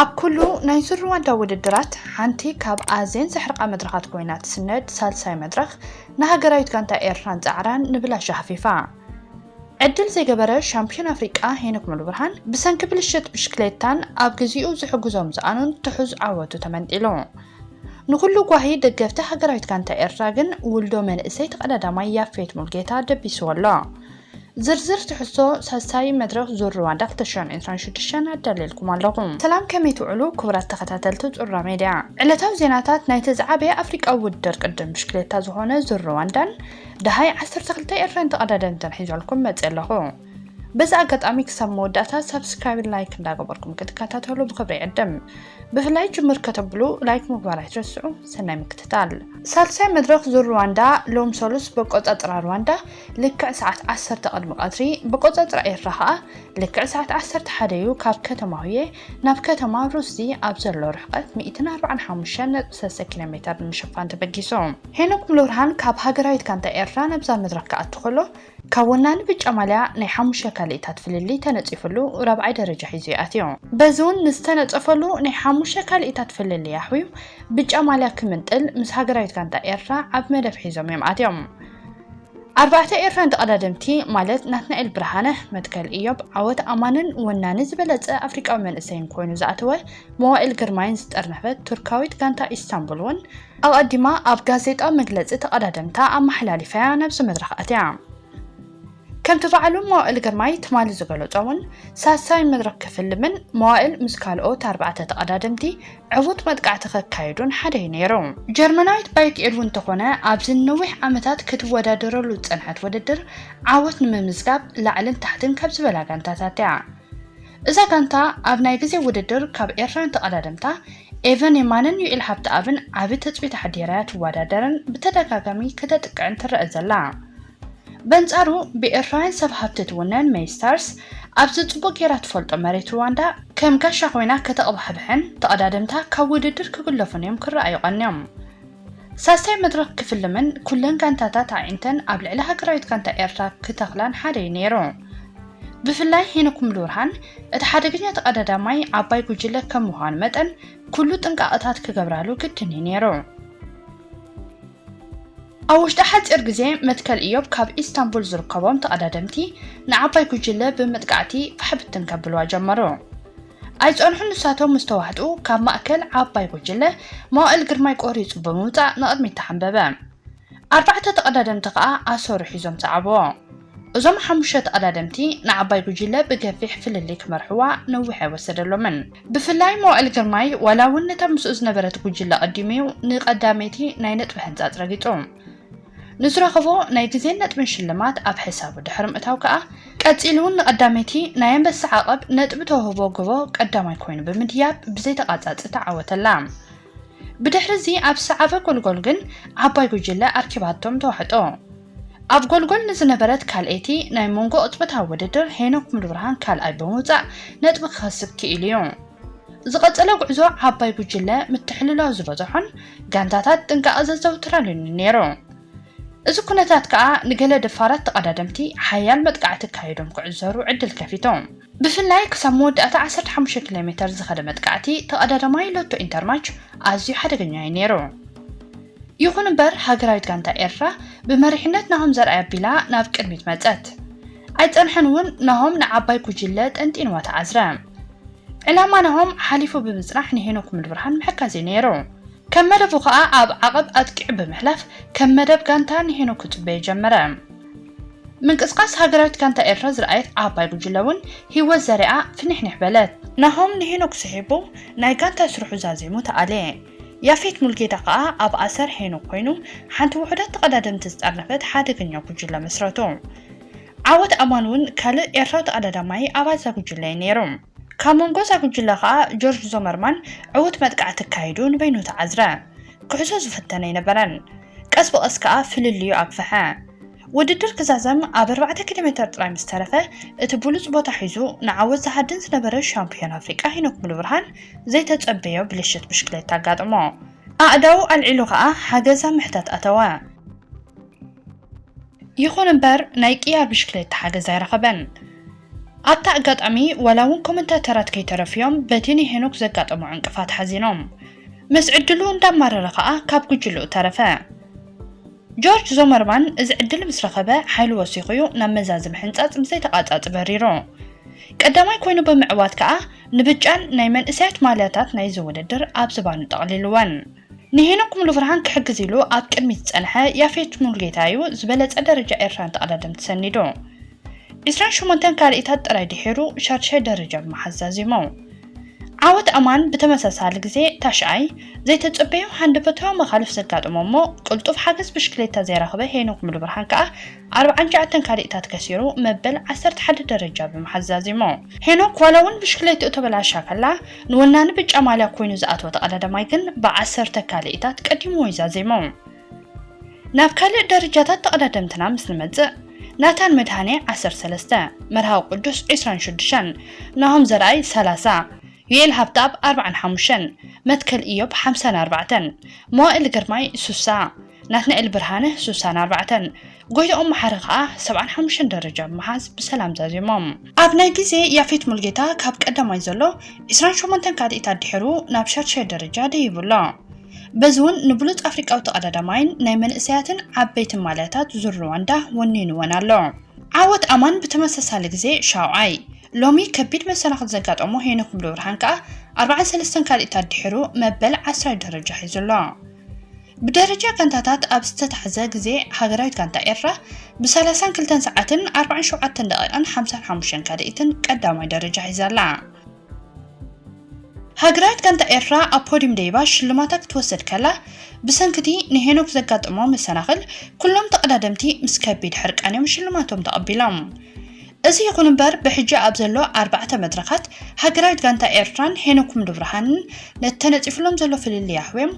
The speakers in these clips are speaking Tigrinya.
ኣብ ኩሉ ናይ ዙር ሩዋንዳ ውድድራት ሓንቲ ካብ ኣዜን ዘሕርቓ መድረኻት ኮይና ትስነድ ሳልሳይ መድረኽ ንሃገራዊት ጋንታ ኤርትራን ጻዕራን ንብላሽ ኣህፊፋ ዕድል ዘይገበረ ሻምፕዮን ኣፍሪቃ ሄኖክ ሙሉብርሃን ብሰንኪ ብልሽት ብሽክሌታን ኣብ ግዚኡ ዝሕግዞ ምሰኣኑን ትሑዝ ዓወቱ ተመንጢሉ። ንኹሉ ጓሂ ደገፍቲ ሃገራዊት ጋንታ ኤርትራ ግን ውልዶ መንእሰይ ተቐዳዳማይ ያፌት ሙልጌታ ደቢስዎ ኣሎ። ዝርዝር ትሕዝቶ ሳልሳይ መድረኽ ዙር ርዋንዳ ክልተ ሽሕን ዕስራን ሽዱሽተን ኣዳልየልኩም ኣለኹ። ሰላም ከመይ ትውዕሉ ክቡራት ተኸታተልቲ ጹራ ሜድያ። ዕለታዊ ዜናታት ናይቲ ዝዓበየ ኣፍሪቃዊ ውድድር ቅድድም ብሽክሌታ ዝኾነ ዙር ርዋንዳን ደሃይ ዓሰርተ ክልተ ኤርትራውያን ተቐዳደምትን ሒዘልኩም መጺኤ ኣለኹ። በዚ ኣጋጣሚ ክሳብ መወዳእታ ሳብስክራይብን ላይክ እንዳገበርኩም ክትከታተሉ ብኽብሪ ይዕድም። ብፍላይ ጅምር ከተብሉ ላይክ ምግባር ኣይትረስዑ። ሰናይ ምክትታል። ሳልሳይ መድረኽ ዙር ርዋንዳ ሎም ሰሉስ በቆጻጽራ ርዋንዳ ልክዕ ሰዓት ዓሰርተ ቅድሚ ቀትሪ ብቆጸጽራ ኤርትራ ከኣ ልክዕ ሰዓት ዓሰርተ ሓደ እዩ ካብ ከተማ ሁየ ናብ ከተማ ሩስዚ ኣብ ዘሎ ርሕቀት ሚእትን ኣርብዓን ሓሙሽተን ነጥቢ ሰለስተ ኪሎ ሜተር ንምሽፋን ተበጊሱ። ሄኖክ ሙሉብርሃን ካብ ሃገራዊት ጋንታ ኤርትራ ናብዛ መድረኽ ክኣቱ ከሎ ካብ ወናኒ ብጫ ማልያ ናይ ሓሙሽተ ካልኢታት ፍልልይ ተነጺፍሉ ራብዓይ ደረጃ ሒዙ እዩ ኣትዩ። በዚ እውን ንዝተነጸፈሉ ናይ ሓሙሽተ ካልኢታት ፍልልይ ኣሕውዩ ብጫ ማልያ ክምንጥል ምስ ሃገራዊት ጋንታ ኤርትራ ዓቢ መደብ ሒዞም እዮም ኣትዮም። ኣርባዕተ ኤርትራን ተቐዳደምቲ ማለት ናትናኤል ብርሃነ፣ መትከል እዮብ፣ ዓወት ኣማንን ወናኒ ዝበለጸ ኣፍሪቃዊ መንእሰይን ኮይኑ ዝኣተወ መዋእል ግርማይን ዝጠርነፈት ቱርካዊት ጋንታ ኢስታንቡል'ውን ኣቐዲማ ኣብ ጋዜጣዊ መግለጺ ተቐዳደምታ ኣመሓላሊፋ'ያ ናብዚ መድረኽ ኣትያ። ከምቲ ባዕሉ መዋእል ግርማይ ትማሊ ዝገለጾ'ውን፣ ሳልሳይ መድረኽ ክፍልምን መዋእል ምስ ካልኦት ኣርባዕተ ተቐዳደምቲ ዕዉት መጥቃዕቲ ከካይዱን ሓደ'ዩ ነይሩ። ጀርመናዊት ባይክ ኤድ'ውን እንተኾነ ኣብዚ ንነዊሕ ዓመታት ክትወዳደረሉ ዝጸንሐት ውድድር ዓወት ንምምዝጋብ ላዕልን ታሕትን ካብ ዝበላ ጋንታታት'ያ። እዛ ጋንታ ኣብ ናይ ግዜ ውድድር ካብ ኤርትራውያን ተቐዳደምታ ኤቨን የማነን ዩኤል ሃብተኣብን ዓቢ ትጽቢት ኣሕዲራ'ያ ትወዳደርን ብተደጋጋሚ ከተጥቅዕን ትረኣ ዘላ። በንጻሩ ብኤርትራውያን ሰብ ሃብቲ ትውነን ሜይ ስታርስ፣ ኣብዚ ጽቡቕ ጌራ ትፈልጦ መሬት ሩዋንዳ ከም ጋሻ ኮይና ከተቕባሕብሕን ተቐዳደምታ ካብ ውድድር ክግለፉን እዮም ክረኣዩ ቀንዮም። ሳልሳይ መድረኽ ክፍልምን ኩለን ጋንታታት ኣዒንተን ኣብ ልዕሊ ሃገራዊት ጋንታ ኤርትራ ክተኽላን ሓደ እዩ ነይሩ። ብፍላይ ሄኖክ ሙሉብርሃን እቲ ሓደገኛ ተቐዳዳማይ ዓባይ ጉጅለ ከም ምዃኑ መጠን ኩሉ ጥንቃቐታት ክገብራሉ ግድን እዩ ነይሩ። ኣብ ውሽጢ ሓጺር ግዜ መትከል እዮብ ካብ ኢስታንቡል ዝርከቦም ተቐዳደምቲ ንዓባይ ጉጅለ ብምጥቃዕቲ ፋሕ ብትን ከብልዋ ጀመሩ። ኣይጸንሑን ንሳቶም ምስ ተዋሕጡ ካብ ማእከል ዓባይ ጉጅለ መዋእል ግርማይ ቆሪጹ ብምውጻእ ንቕድሚት ተሓንበበ። ኣርባዕተ ተቐዳደምቲ ከኣ ኣሰሩ ሒዞም ሰዓብዎ። እዞም ሓሙሽተ ተቐዳደምቲ ንዓባይ ጉጅለ ብገፊሕ ፍልልይ ክመርሕዋ ነዊሕ ኣይወሰደሎምን። ብፍላይ መዋእል ግርማይ ዋላ እውን ነታ ምስኡ ዝነበረት ጉጅለ ቀዲሙ'ዩ ንቀዳመይቲ ናይ ነጥቢ ሕንጻጽ ረጊጹ። ንዝረኸቦ ናይ ግዜን ነጥብን ሽልማት ኣብ ሕሳቡ ድሕሪ ምእታው ከኣ፣ ቀጺሉ እውን ንቀዳመይቲ ናይ ኣንበሳ ዓቐብ ነጥቢ ተውህቦ ጎቦ ቀዳማይ ኮይኑ ብምድያብ ብዘይተቛጻጺ ተዓወተላ። ብድሕሪ'ዚ ኣብ ሰዓበ ጎልጎል ግን ዓባይ ጉጅለ ኣርኪባቶም ተዋሕጦ። ኣብ ጎልጎል ንዝነበረት ካልኣይቲ ናይ መንጎ ቅጽበታዊ ውድድር ሄኖክ ሙሉብርሃን ካልኣይ ብምውጻእ ነጥቢ ክኸስብ ክኢሉ'ዩ። ዝቐጸለ ጉዕዞ ዓባይ ጉጅለ ምትሕልላው ዝበዘሖን ጋንታታት ጥንቃቐ ዘዘውትራሉን'ዩ ነይሩ። እዚ ኩነታት ከኣ ንገለ ደፋራት ተቐዳደምቲ ሓያል መጥቃዕቲ ኣካይዶም ክዕዘሩ ዕድል ከፊቶም። ብፍላይ ክሳብ መወዳእታ ዓሰርተ ሓሙሽተ ኪሎሜተር ዝኸደ መጥቃዕቲ ተቐዳዳማይ ሎቶ ኢንተርማች ኣዝዩ ሓደገኛ እዩ ነይሩ። ይኹን እምበር ሃገራዊት ጋንታ ኤርትራ ብመሪሕነት ናሆም ዘርኣይ ኣቢላ ናብ ቅድሚት መጸት። ኣይጸንሐን እውን ናሆም ንዓባይ ጉጅለ ጠንጢንዋ ተዓዝረ። ዕላማ ናሆም ሓሊፉ ብምጽናሕ ንሄኖክ ሙሉብርሃን ምሕካዝ እዩ ነይሩ። ከም መደቡ ከኣ ኣብ ዓቐብ ኣጥቂዑ ብምሕላፍ ከም መደብ ጋንታ ንሒኑ ክጽበዩ ጀመረ። ምንቅስቓስ ሃገራዊት ጋንታ ኤርትራ ዝረኣየት ዓባይ ጉጅለ ውን ሂወት ዘሪኣ ፍኒሕኒሕ በለት። ናሆም ንሄኖክ ስሒቡ ናይ ጋንታ ስርሑ ዛዚሙ ተኣልየ። ያፌት ሙልጌታ ከኣ ኣብ ኣሰር ሄኖክ ኮይኑ ሓንቲ ውሑዳት ተቐዳደምቲ ዝጠርነፈት ሓደገኛ ጉጅለ መስረቱ። ዓወት ኣማን ውን ካልእ ኤርትራዊ ተቐዳዳማይ ኣባዛ ጉጅለ'ዩ ነይሩ። ካብ መንጎ እዛ ጉጅለ ከኣ ጆርጅ ዞመርማን ዕዉት መጥቃዕቲ ኣካይዱ ንበይኑ ተዓዝረ። ክሕዞ ዝፍተን ኣይነበረን። ቀስ ብቐስ ከኣ ፍልልዩ ኣግፍሐ። ውድድር ክዛዘም ኣብ ኣርባዕተ ኪሎሜተር ጥራይ ምስ ተረፈ፣ እቲ ብሉጽ ቦታ ሒዙ ንዓወት ዝሃድን ዝነበረ ሻምፕዮን ኣፍሪቃ ሄኖክ ሙሉብርሃን ዘይተጸበዮ ብልሽት ብሽክሌታ ኣጋጠሞ። ኣእዳዉ ኣልዒሉ ከኣ ሓገዝ ኣብ ምሕታት ኣተወ። ይኹን እምበር ናይ ቅያ ብሽክሌታ ሓገዝ ኣይረኸበን። ኣብታ ኣጋጣሚ ዋላ እውን ኮመንታተራት ከይተረፉ'ዮም በቲ ንሄኖክ ዘጋጠሞ ዕንቅፋት ሓዚኖም። ምስ ዕድሉ እንዳማረረ ከኣ ካብ ጉጅልኡ ተረፈ። ጆርጅ ዞመርማን እዚ ዕድል ምስ ረኸበ ሓይሉ ወሲኹ'ዩ ናብ መዛዝም ሕንጻጽ ብዘይተቛጻጽ በሪሩ። ቀዳማይ ኮይኑ ብምዕዋት ከኣ ንብጫን ናይ መንእሰያት ማልያታት ናይዚ ውድድር ኣብ ዝባኑ ጠቕሊሉወን። ንሄኖክ ሙሉብርሃን ክሕግዝ ኢሉ ኣብ ቅድሚት ዝጸንሐ ያፌት ሙሉጌታ እዩ ዝበለጸ ደረጃ ኤርትራን ተቐዳደምቲ ሰኒዱ። ዕስራን ሸሞንተን ካልኢታት ጥራይ ድሒሩ ሻድሻይ ደረጃ ብምሓዝ ዛዚሙ። ዓወት ኣማን ብተመሳሳሊ ግዜ ታሽዓይ፣ ዘይተጸበዮ ሃንደበታዊ መኻልፍ ዘጋጠሞ እሞ ቅልጡፍ ሓገዝ ብሽክሌታ ዘይረኽበ ሄኖክ ሙሉብርሃን ከኣ ኣርብዓን ትሽዓተን ካልኢታት ከሲሩ መበል ዓሰርተ ሓደ ደረጃ ብምሓዝ ዛዚሙ። ሄኖክ ዋላ'ውን ብሽክሌትኡ ተበላሽያ ከላ ንወናኒ ብጫ ማልያ ኰይኑ ዝኣተወ ተቐዳዳማይ ግን ብዓሰርተ ካልኢታት ቀዲምዎ'ዩ ዛዚሙ። ናብ ካልእ ደረጃታት ተቐዳደምትና ምስ ንመጽእ፣ ናታን መድሃኔ ዓሰርተ ሰለስተ፣ መርሃዊ ቅዱስ ዕስራን ሽዱሽተን፣ ናሆም ዘርኣይ ሰላሳ፣ ዩኤል ሃብተኣብ ኣርብዓን ሓሙሽተን፣ መትከል እዮብ ሓምሳን ኣርባዕተን፣ መዋእል ግርማይ ሱሳ፣ ናትናኤል ብርሃነ ሱሳን ኣርባዕተን ጎይትኦም መሓሪ ከኣ ሰብዓን ሓሙሽተን ደረጃ ብምሓዝ ብሰላም ዛዚሞም። ኣብ ናይ ግዜ ያፌት ሙልጌታ ካብ ቀዳማይ ዘሎ ዕስራን ሸሞንተን ካልኢት ኣድሒሩ ናብ ሻድሻይ ደረጃ ደይቡ ኣሎ። በዚ እውን ንብሉጽ ኣፍሪቃዊ ተቐዳዳማይን ናይ መንእሰያትን ዓበይትን ማልያታት ዙር ርዋንዳ ወኒንወን ኣሎ። ዓወት ኣማን ብተመሳሳሊ ግዜ ሻውዓይ፣ ሎሚ ከቢድ መሰናኽል ዘጋጠሞ ሄኖክ ሙሉብርሃን ከኣ ኣርባዓን ሰለስተን ካልኢት ኣድሒሩ መበል ዓስራይ ደረጃ ሒዙ ኣሎ። ብደረጃ ጋንታታት ኣብ ዝተታሕዘ ግዜ ሃገራዊት ጋንታ ኤርትራ ብ ሰላሳን ክልተን ሰዓትን ኣርባዓን ሸውዓተን ደቒቕን ሓምሳን ሓሙሽተን ካልኢትን ቀዳማይ ደረጃ ሒዛ ኣላ። ሃገራዊት ጋንታ ኤርትራ ኣብ ፖድዩም ደይባ ሽልማታ ክትወስድ ከላ፣ ብሰንኪ'ቲ ንሄኖክ ዘጋጠሞ መሰናኽል ኩሎም ተቐዳደምቲ ምስ ከቢድ ሕርቃን'ዮም ሽልማቶም ተቐቢሎም። እዚ ይኹን እምበር ብሕጂ ኣብ ዘሎ ኣርባዕተ መድረኻት ሃገራዊት ጋንታ ኤርትራን ሄኖክ ኩምሉብርሃንን ነቲ ተነጺፉሎም ዘሎ ፍልልይ ኣሕውዮም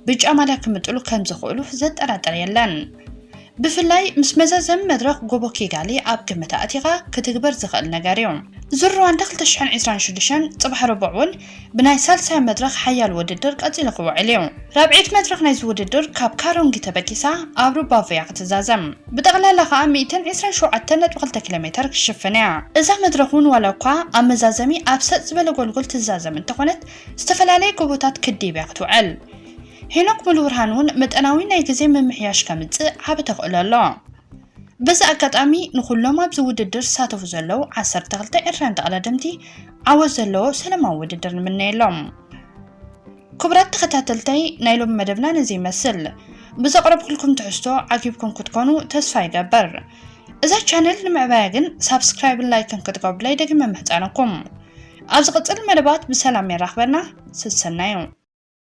ብጫ ማልያ ክምጥሉ ከምዝኽእሉ ዘጠራጥር የለን። ብፍላይ ምስ መዛዘሚ መድረኽ ጎቦ ኪጋሊ ኣብ ግምት ኣእቲኻ ክትግበር ዝኽእል ነገርዩ። ዙር ርዋንዳ ክልተ ሽሕን ዕስራን ሽዱሽተን ጽባሕ ረቡዕ'ውን ብናይ ሳልሳይ መድረኽ ሓያል ውድድር ቀጺሉ ክውዕል እዩ። ራብዒት መድረኽ ናይዚ ውድድር ካብ ካሮንጊ ተበጊሳ ኣብ ሩባቮያ ክትዛዘም፣ ብጠቕላላ ከኣ ሚእትን ዕስራን ሸውዓተን ነጥቢ ክልተ ኪሎሜተር ክትሽፍን እያ። እዛ መድረኽ እውን ዋላ እኳ ኣብ መዛዘሚ ኣብ ሰጥ ዝበለ ጎልጎል ትዛዘም እንተኾነት፣ ዝተፈላለየ ጎቦታት ክድይብ እያ ክትውዕል። ሄኖክ ሙሉብርሃን እውን መጠናዊ ናይ ግዜ ምምሕያሽ ከምጽእ ዓቢ ተኽእሎ ኣሎ። በዚ ኣጋጣሚ ንኹሎም ኣብዚ ውድድር ዝሳተፉ ዘለዉ ዓሰርተ ክልተ ኤርትራውያን ተቐዳደምቲ ዓወት ዘለዎ ሰላማዊ ውድድር ንምነየሎም። ክቡራት ተኸታተልተይ ናይ ሎሚ መደብና ነዚ ይመስል። ብዘቕረብኩልኩም ትሕዝቶ ዓጊብኩም ክትኮኑ ተስፋ ይገብር። እዛ ቻነል ንምዕባያ ግን ሳብስክራይብን ላይክን ክትገብሩለይ ደጊመ ምሕጻነኩም። ኣብ ዝቕጽል መደባት ብሰላም የራኽበና። ስሰናዩ